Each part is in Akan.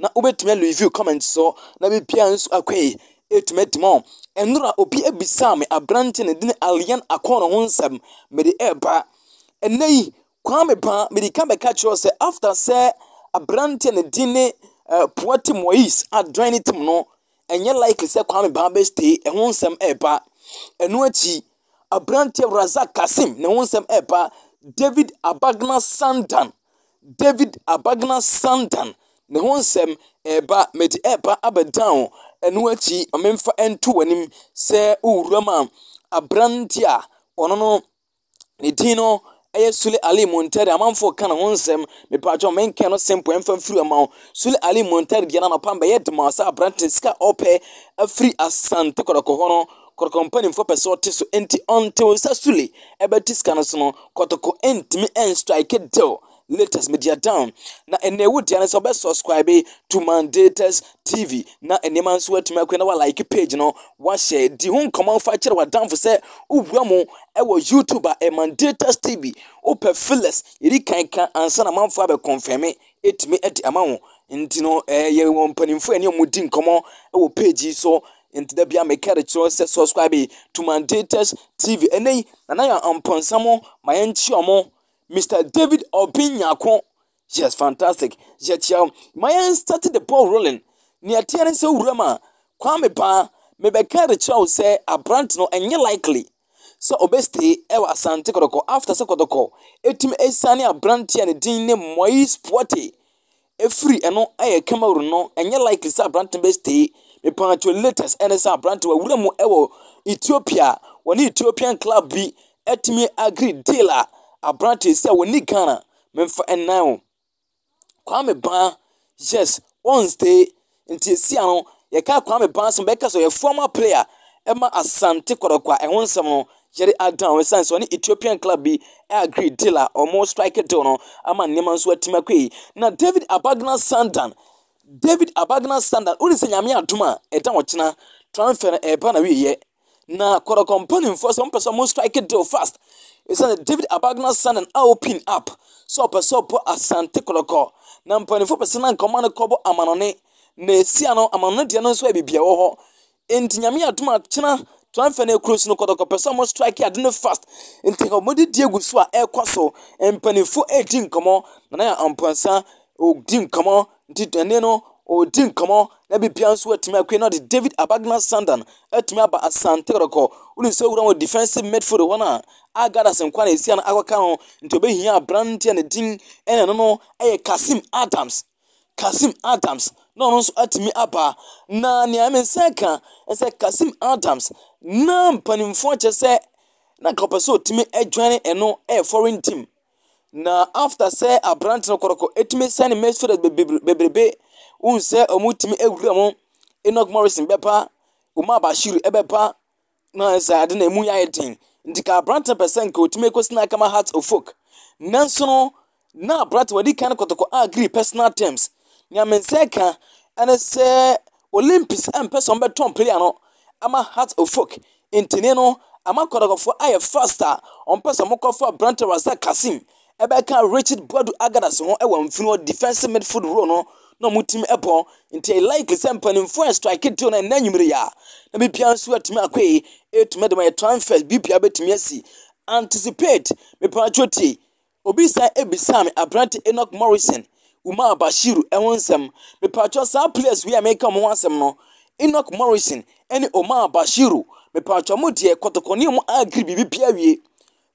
na wobɛtumi alivio kɔmɛnt soɔ na bi pia nso akwai ɛtumi atim ɔ ɛnora obi abisaa me aberante ne dine alian akɔnɔ ho nsɛm mede ɛɛba ɛnɛ yi kwaa me paa mede ka bɛka kyerɛ sɛ after sɛ aberante ne dine poa te mois adran ne tim no ɛnyɛ likely sɛ kwaa me paa bɛ stay ɛho nsɛm ɛɛba ɛno akyi aberante razak kasim ne ho nsɛm ɛɛba david abagna sandan David Abagna san dan ne ho nsɛm reba a, mede reba abɛdan wo. Ɛno akyi, ma memfa nto w'anim sɛ wo wuram a, aberante a ɔno no, ne din no yɛ Sule Ali Muntari. Amanfoɔ ka ne ho nsɛm, mepaatwa menkan no simple mfa mfiri ma wo. Sule Ali Muntari deɛ no anɔpa mbɛyɛ de ma sɛ aberante sika a ɔpɛ afiri Asante Kɔtɔkɔ hɔ no, kɔtɔkɔ mpanimfoɔ pɛ sɛ ɔte so nti ɔnte wo nsa sule ɛbɛte sika no so no kɔtɔkɔ ntumi nstrike deal latest media down na ɛnna ɛwu deɛ no sɛ ɔbɛ subscribe to mandatus tv na nneɛma nso atumi akɔ na wa like page no wahyɛ di ho nkɔmɔ nfa kyerɛ wadanfo sɛ wowura mu ɛwɔ youtube a ɛ mandatus tv wopɛ feelers yɛdi kan ka ansa na manfo abɛ confirme ɛtumi ɛde ama wo nti no ɛyɛ wɔn mpanimfoɔ ɛne ɔmo di nkɔmɔ ɛwɔ page yi so Enti da bia meka de kyerɛ sɛ subscribe to Mandated TV. Ɛnɛ yi, nana yɛ mpɔnsa mo ma yɛnkyia mo. Mr. David Obin Nyako. Yes, fantastic. Yɛkyia wo. Ma yɛn start the ball rolling. Nea ɛteɛ ne sɛ wura ma Kwame Baa mebɛka de kyerɛ wo sɛ aberante no ɛnyɛ likely sɛ ɔbɛstay ɛwɔ Asante Kɔtɔkɔ after sɛ Kɔtɔkɔ ɛtumi asiane aberante a ne din ne Moise Puate ɛfiri ɛno ɛyɛ camera no ɛnyɛ like sɛ aberantɛ bɛ stay mepatwɔ latest ɛne sɛ aberantɛ wawura mu ɛwɔ ethiopia wɔne ethiopian club bi atumi agree deal a aberantɛ sɛ wɔnni ghana memfa nnan o kwame baa yes ɔn stay Nti esia no yɛka Kwame Bansah a bɛka sɛ ɔyɛ former player ma Asante Kɔtɔkɔ a ɛho nsɛm no yɛde adan no ɛsiane sɛ ɔne Ethiopian club bi agree deal a wɔn strike deal no ama nneɛma nso atumi akɔ yi. Na David Abagna Sandan, David Abagna Sandan, wode sɛ Nyame adom a ɛda ɔkyena transfer no ɛreba n'awieɛ. Na Kɔtɔkɔ mpanimfoɔ sɛ wɔpɛ sɛ wɔn strike deal fast ɛsiane David Abagna sign and open up sɛ ɔpɛ sɛ ɔbɔ Asante Kɔtɔkɔ na mpanimfoɔ pɛ sɛ na nkɔma no kɔbɔ amanɔne na ɛsia no amanɔne deɛ no nso yɛ biribi ɛwɔ hɔ nti nyame adom akyena twanfɛ no akuro so no Kɔtɔkɔ pɛ sɛ wɔn strike ade no fast nti wɔde di egu so a ɛkɔ so mpanimfoɔ ɛredi nkɔmɔ na na yɛ ampansa ɔdi nkɔmɔ Nti ɛnneɛ no, ɔredi nkɔmmɔ na biribiara nso atumi akue na ɔde David Abagna Sandan atumi aba Asante Kɔtɔkɔ. Wonim sɛ owura wɔ defensive midfield hɔ no a, a Gardas nko na ɛsi ano akɔka ho, nti ɔbɛhia aberanteɛ a ne din ɛne no no yɛ Kasim Adams. Kasim Adams na ɔno nso atumi aba. Na nea ɛmɛ nsa ka sɛ Kasim Adams na mpanimfoɔ kyɛ sɛ na nka ɔpɛ sɛ ɔtumi adwane ɛno ɛyɛ foreign team. Na after sɛ aberante no kɔrɔkɔ ɛtumi sɛ ne mɛso dɛ bebrebe wohu sɛ wɔtumi awura mu enoch morrison bɛba omar bashir ɛbɛba na sɛ ade na ɛmu yɛ ayɛ den nti ka aberante no pɛ sɛ nka ɔtumi kɔsi na akama heart of folk nanso no na aberante wɔde kan kɔtɔkɔ agree personal terms nea me nsa ka ɛne sɛ Olympics mpɛ sɛ wɔbɛtɔn player no ama Hearts of Oak ntini no ama kɔtɔkɔfoɔ ayɛ fast a wɔpɛ sɛ wɔkɔfa aberanteɛ Razak Kassim bɛka Richard Boadu Agadase ho wɔ mfini hɔ defensive midfield role no na wɔtumi bɔ nti ɛyɛ likely sɛ mpanimfoɔ a strike deal no ɛnɛ anwummere yi a na biribiara nso atumi akɔ yi ɛtumi de ma yɛ transfers biribiara bɛtumi asi anticipate mepatwɔ tie Obi san bisaa me aberante Enoch Morrison, Umar Bashir ho nsɛm. Mepakyɛw saa players wei a meka wɔn ho asɛm no, Enoch Morrison ne Omar Bashir, mepakyɛw mo deɛ kɔtɔkɔ ne wɔn agree biribi biara wie.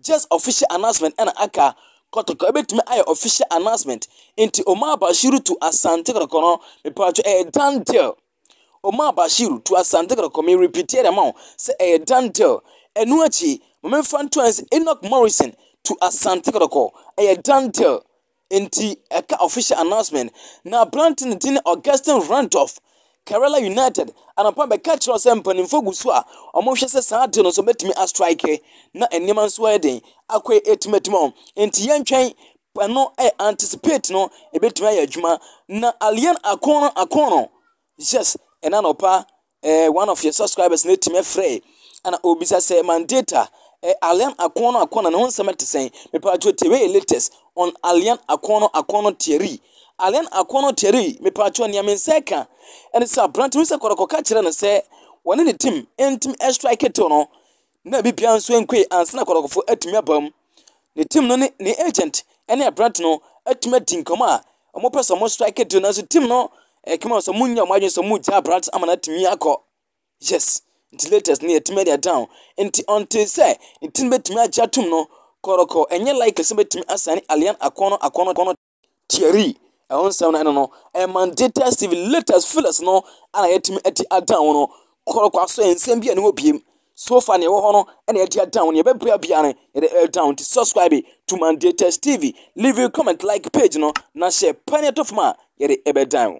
Just official announcement ɛna aka. Kɔtɔkɔ ebetumi ayɛ official announcement. Nti Omar Bashir to Asante kɔtɔkɔ no, mepakyɛw ɛyɛ done deal. Omar Bashiru to Asante Kotoko me repeatie de ama wo sɛ ɛyɛ Dan Dell ɛno akyi ma me nfa nto ayɛ sɛ Enoch Morrison to Asante Kotoko ɛyɛ Dan Dell nti ɛka official announcement na aberante no din Augustine Randolph Kerala United anɔpa bɛka kyerɛ sɛ mpanimfoɔ gu so a wɔn hwɛ sɛ saa deal no so bɛtumi a strike na nneɛma nso ayɛ den akɔɛ ɛtimatuma wɔn nti yɛntwɛn Ɛno yɛ anticipate no ɛbɛtumi ayɛ adwuma na alien akono akono yes ɛna nɔpa eh, one of your subscribers na ɛtumi afrɛ ɛna obisa sɛ man data eh, alien akono akono na ho nsɛm ɛte sɛn mepa atwo tewe latest on alien akono akono theory alien akono theory mepa atwo nea me nsa ɛka ɛne sɛ aberante hu sɛ kɔrɔkɔ ka kyerɛ no sɛ wɔne ne tim ɛntumi ɛstrike tew no na ebi biara nso nkue ansa na kɔkɔrɔfo atumi aba mu. Ne tim no ne ne agent ne aberante no atumi adi nkɔmmɔ a wɔpɛ sɛ wɔn strike deal nanso tim no ɛkɛm sɛ wɔn nyɛ wɔn adwene sɛ wɔn gya aberante ama no atumi akɔ yes nti latest no yɛtumi adi adan nti ɔnte sɛ ne tim betumi agye atum no kɔrɔkɔ ɛnyɛ like sɛ betumi asan alian akɔnɔ akɔnɔ akɔnɔ Thierry, ɛho nsɛm no ɛno no, ɛyɛ Mandetta Civiletas Filhas no a na yɛatumi adi adan ho no kɔrɔ kwa so nsɛm bi a ɛne hɔ biem. So fa nea ɛwɔ hɔ no ɛna yɛadi adan ho, nea ɛbɛbrɛ biara no yɛde ɛdan ho. Nti subscribe to Mandetta's TV, leave a comment, like page no, na hyɛ pɛ ne ɛtɔ fam a yɛde ɛbɛdan ho.